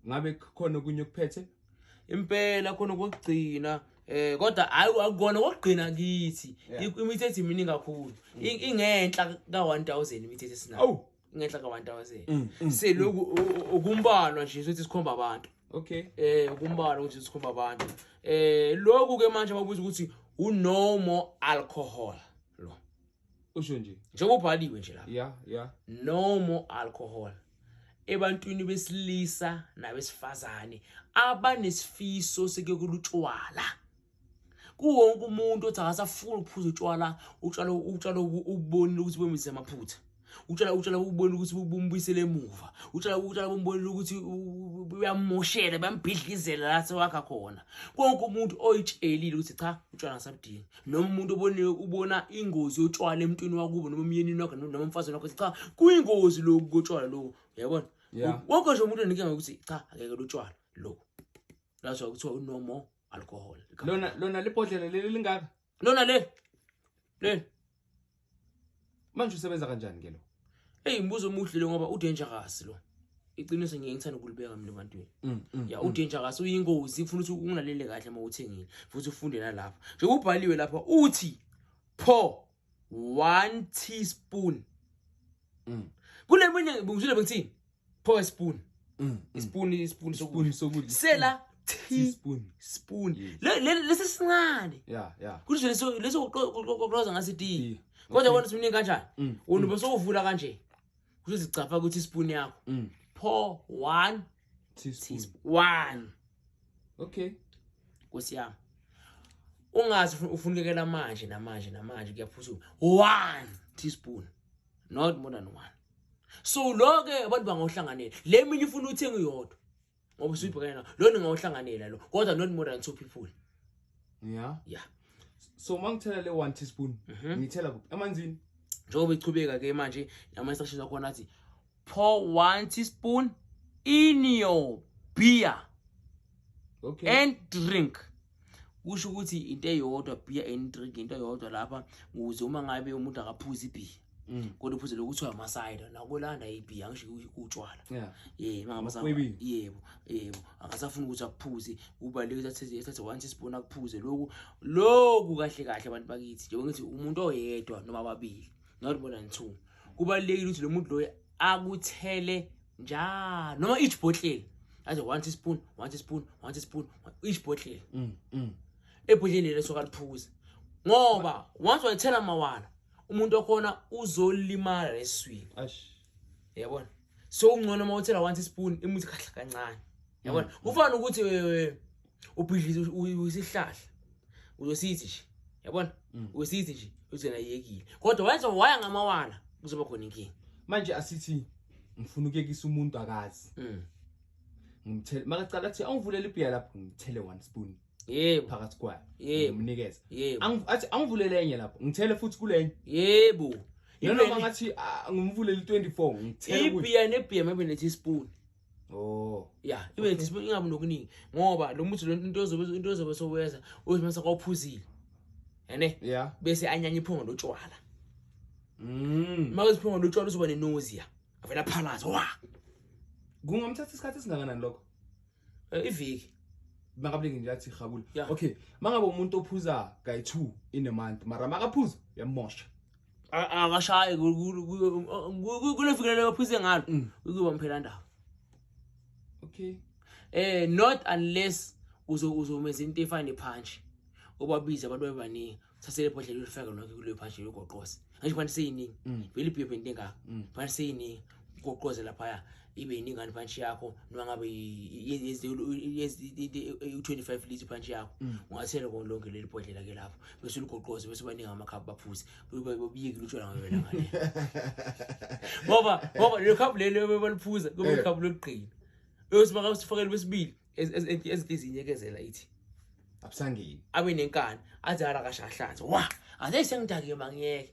ngabe khona okunye okuphethe impela khona kokugcina eh kodwa hayi akukona kokugcina kithi imithetho imini kakhulu ingenhla ka 1000 imithetho esinayo awu ingenhla ka 1000 mm, mm, seloku mm. ukumbalwa nje sothi sikhomba abantu okay eh ukumbalwa ukuthi sikhomba abantu eh lokhu ke manje babuza ukuthi u no more alcohol usho nje njengoba ubhaliwe nje lapha yeah yeah no more alcohol ebantwini besilisa nabesifazane abanesifiso sekekulutshwala kuwonke umuntu othi akasafuni ukuphuza utshwala utshwala utshwala ubonile ukuthi bemize amaphutha utshwala utshwala ubonile ukuthi bumbuyisele emuva utshwala utshwala bumbonile ukuthi uyamoshela bambhidlizela la sewakha khona konke umuntu oyitshelile ukuthi cha utshwala ngasabudingi noma umuntu oboniwe ubona ingozi yotshwala emntwini wakubo noma umyenini wakho noma umfazini wakho cha kuyingozi lokhu kotshwala lokhu uyabona wonke nje umuntu enike ngokuthi cha akeke lotshwala lokhu that's why kuthiwa no more alcohol lona lona libhodlela leli lingaka lona le le manje usebenza kanjani ke lo hey mbuzo omuhle lo ngoba udangerous lo iqiniso ngiye ngithanda ukulibeka mina ebantwini mm, mm, ya mm. udangerous uyingozi kufuna ukuthi ungalalele kahle uma uthengile futhi ufunde nalapha nje kubhaliwe lapha uthi pho one teaspoon kule mina ngibuzile bengithini pho spoon mm, mm. spoon spoon spoon sokudla sela tea spoon spoon lesi sincane yeah yeah kuthi leso leso uqoqoza ngase tea kodwa wona simini kanjani mm, wona besowuvula kanje uzicapha ukuthi spoon yakho pho 1 teaspoon 1 okay nkosi yami ungazi ufunekela manje namanje namanje kuyaphusuka 1 teaspoon not more than 1 so lo ke abantu bangawuhlanganela le mina ifuna uthenga uyodwa ngoba usuyibhekene nawo lo ningawuhlanganela lo kodwa not more than two people yeah yeah so uma ngithela le one teaspoon mhm. ngithela kuphi emanzini njengoba ichubeka ke manje nama instructions akhona athi pour one teaspoon in your beer okay and drink kusho ukuthi into eyodwa beer and drink into eyodwa lapha ukuze uma ngabe umuntu akaphuzi ibhiya mm. kodwa uphuze lokuthiwa amasayida nakolanda ibhiya ngisho utshwala yebo yebo akasafuni ukuthi akuphuze kubaluleke ethathe one teaspoon akuphuze loku loku kahle kahle abantu bakithi njengoba ngithi umuntu oyedwa noma ababili not more than two kubalulekile ukuthi lo muntu loyo akuthele njalo noma each bottle aze one teaspoon one teaspoon one teaspoon each bottle mm, mm. ebhodleni lelo soka liphuza ngoba once wayithela mawala umuntu okhona uzolimala leswini yabona so ungcono uma uthela one teaspoon imuthi kahle kancane yabona mm. kufana ukuthi ubhidliza uyisihlahla uzosithi nje yabona mm. uyosithi nje uzena yekile kodwa wenza waya ngamawala kuzoba khona inkinga manje asithi ngifuna ukuyekisa umuntu akazi mm. ngimthele makacala athi awungivulele ibhiya lapho ngithele one spoon yebo phakathi kwayo yebo mnikeza yebo athi angivulele enye lapho ngithele futhi kulenye yebo noma ngathi ah, ngimvulele 24 ngithele ibhiya nebhiya maybe nethi spoon Oh. Yeah, ibe okay. discipline ingabi nokuningi ngoba lo muthi lento ozobe into ozobe sowenza uzimasa kwaphuzile. Ene? Yeah. Bese anyanya iphunga lotshwala. Mm. Mawuzi iphunga lotshwala uzoba ne nausea. Avela phalaza. Wa. Kungomthatha isikhathi singakanani lokho? Eh, iviki. Makabulingi nje athi gabula. Okay. Mangabe umuntu ophuza guy 2 in a month, mara makaphuza yamosha. akashaye kule fikile leyo phise ngalo mm. ukuba mphela ndaba okay eh not unless uzo uzomenza into efane punch obabiza abantu bebaningi thathele ibhodlela ulifake lonke kuleyo punch yogoqoze ngisho fanele seyiningi mm. vele ibhebhe into engaka mm. fanele seyiningi ugoqoze laphaya ibe yiningi ani punch yakho noma ngabe u-25 lithi punch yakho mm. ungathela kona lonke leli bhodlela ke lapho bese uligoqoze bese ubaninga amakhaphu baphuze buyekile utshwala ngabela ngale ngoba ngoba lelo khaphu lelo baliphuza kube eh. ikhaphu lokugqina bese baka usifakele besibili ezinhliziyi ekezela ithi abusangeni abe nenkani athi hala kashahlanze wa athi sengidakiwe mangiyeke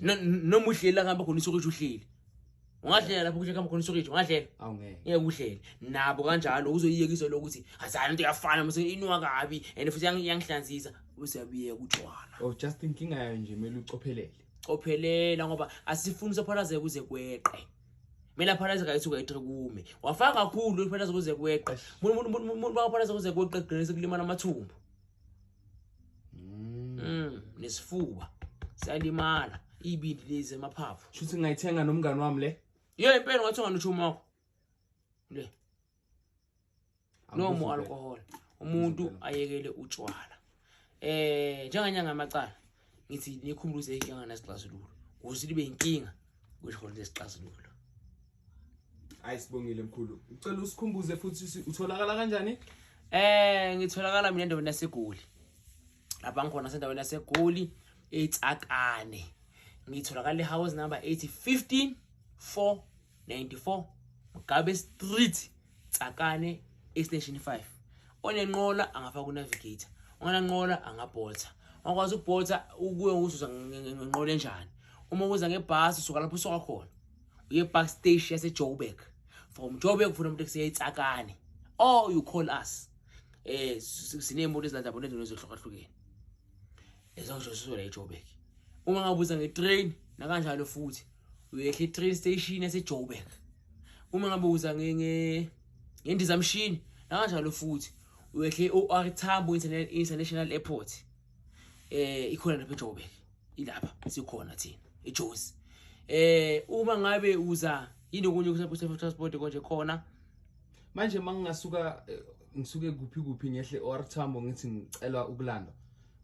noma uhleli la ngihamba khona isokithi uhleli ungahlela lapho kuhle khamba khona isokithi ungahlela ngeke uhlele nabo kanjalo uzoyiyekiswa lo ukuthi azani into yafana mase inwa kabi and futhi iyangihlanzisa usiyabiyeka utshwala oh just inkinga yayo nje kumele ucophelele cophelela ngoba asifuni usaphalazeka kuze kweqe kumele aphalaze kayithi ukayitre kume wafaka kakhulu uphalaze kuze kweqe umuntu umuntu umuntu bakaphalaze kuze kweqe gcine sekulimala amathumbu Mm. Mm, nesifuba siyalimala ibindi lezi emaphaphu. Shuthi ngayithenga nomngani wami le. Yey impela ngathenga nochuma wakho. Le. No more alcohol. Umuntu ayekele utshwala. Eh njenganyanga amacala. ngithi nikhumbula ukuthi inkinga anasixazululo kuze libe inkinga kusho khona lesixazululo hayi sibongile mkhulu ucela usikhumbuze futhi utholakala kanjani eh ngitholakala mina endaweni yasegoli lapha ngikhona sendaweni yasegoli etsakane ngitholakala ehouse number 8 15 4 94 Mugabe Street Tsakane Extension 5 onenqola angafaka unavigator ongananqola angabhotha ongakwazi ukubhotha ukuye uzuza ngenqola enjani uma uza ngebhasi usuka lapho usuka khona uye park station yasejoburg from joburg ufuna umuntu ekuseya itsakane or you call us eh sineemoto ezilanda bona ezinto ezohlukahlukene ezonjosiswela ejoburg uma ngabuza ngetrain nakanjalo futhi uyehla i-train station yasejoburg uma ngabe uza ngendizamshini nakanjalo futhi uyehla i-or tambo international airport eh ikhona lapha ejoburg ilapha sikhona thina ejozi eh uma ngabe uza yini okunye kusephusefo transport konje khona manje uma ngingasuka eh, ngisuke kuphi kuphi ngehle or tambo ngithi ngicela ukulandwa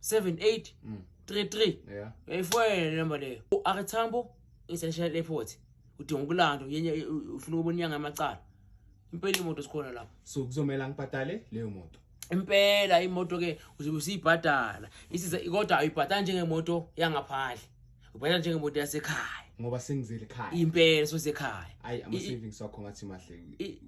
78 mm. 33 yeah efoyela number leyo uArethambo essential airport udinga ukulando yenye ufuna ukubona inyanga amacala impela imoto sikhona lapho so kuzomela ngibhadale leyo moto impela imoto ke uzobe usiyibhadala isiza kodwa ayibhadala njengemoto yangaphandle ubona njengemoto yasekhaya ngoba sengizele ekhaya impela sosekhaya ayi ama savings wakho ngathi mahle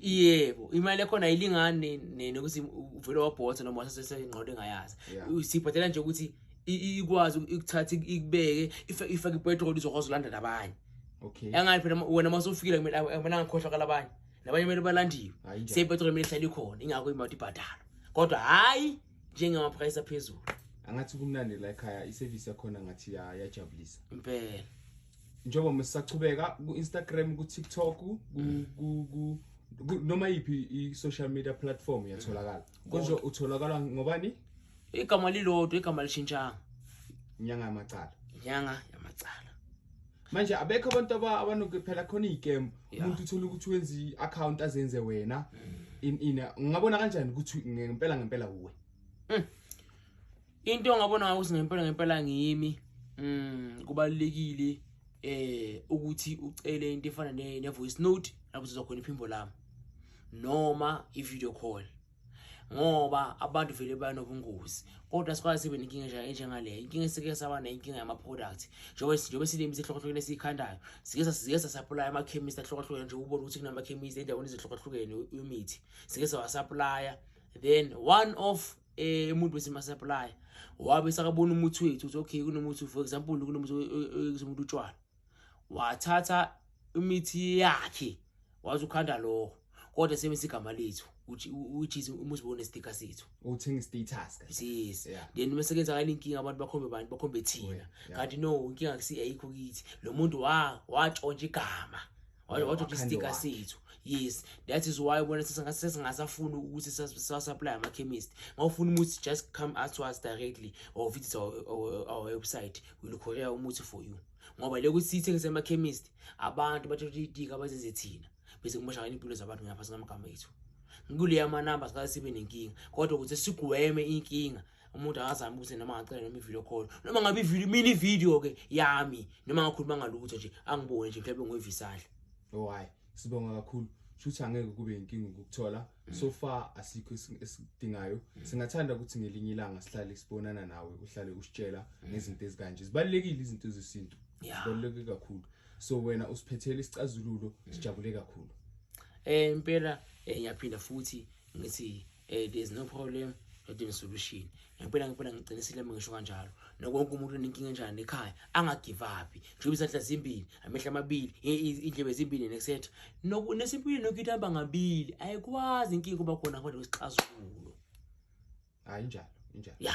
yebo imali ekhona ayilingani nene ukuthi uvele wabhotha noma wasesengqondo engayazi sibhadela nje ukuthi ikwazi ukuthatha ikubeke ifake ipetrol izokwazi ulanda nabanye okay yangathi phela wena uma usufikile kumele kumele angakhohlakala abanye nabanye kumele balandiwe seyipetrol kumele ihlale ikhona ingakho imoto ibhadalwa kodwa hhayi njengama price aphezulu angathi kumnandi la ekhaya iservice yakhona ngathi yajabulisa impela njengoba sisachubeka ku-instagram ku-tiktok noma yiphi i-social media platform iyatholakala mm. konje utholakala ngobani igama lilodwa igama lishintshanga inyanga yamacala inyanga yamacala manje abekho abantu abanoke phela khona iy'kem umuntu uthole ukuthi wenza i-account azenze wena in in ngingabona kanjani ukuthi ngempela ngempela uwe mm. into ongabona ngayo ukuthi ngempela ngempela ngiyimi mm, kubalulekile eh ukuthi ucele into efana ne-voice note lapho sizokhona iphimbo lami noma i-video call ngoba abantu vele banobungozi kodwa sikwazi sibe nenkinga enjengaleyo inkinga esike saba nayo inkinga yama-product njengoba silimi isihlokohlukene esiyikhandayo sike sike sasaplaya amakhemisi ahlokohlukene nje ubone ukuthi kunamakhemisi endaweni ezihlokohlukene imithi sike sawasaplaya then one of eh, umuntu wesimasaplaya wabe sakabona umuthi wethu ukuthi okay kunomuthi for example kunomuthi umuntu utshwala wathatha imithi yakhe waze ukhanda lokho kodwa sebenzisa igama lethu uJesu umusibone sticker sethu uthenga status ka yes then bese kenza kale inkinga abantu bakhombe abantu bakhombe thina kanti no inkinga kusi ayikho kithi lo muntu wa watshontsha igama wathi uthi sticker sethu yes that is why ubona sesingasafuni ukuthi siwasaplye amakhemist ngawufuna umuthi just come out to us directly or visit our, our, our website will courier umuthi for you ngoba le kuthi sithengise amakhemist abantu bathatha itika bazenze thina bese kumoshakala impilo zabantu ngaphansi ngamagama ethu ngikuleya manumber sikasibe nenkinga kodwa ukuze sigweme inkinga umuntu akazami ukuthi noma ngacela noma ivideo call noma ngabe ivideo mina ivideo ke yami noma ngakhuluma ngalutho nje angibone nje mhlawumbe ngoyivisahle oh hayi sibonga kakhulu shuthi angeke kube inkinga ukuthola mm. so far asikho esidingayo mm. singathanda ukuthi ngelinye ilanga sihlale sibonana nawe uhlale usitshela mm. ngezinto ezikanje zibalekile izinto zesintu zibaleke kakhulu so wena usiphethele isicazululo sijabule kakhulu eh impela eh, ngiyaphinda futhi ngithi Eh, there's no problem not in solution ngempela ngempela ngiqinisile uma ngisho kanjalo nokonke umuntu unenkinga enjani ekhaya angagive up njengoba izandla zimbili amehlo amabili indlebe zimbili etc nesempilweni nokuthi aba ngabili ayikwazi inkinga kuba khona kodwa kwesixazululo hayi njalo njalo ya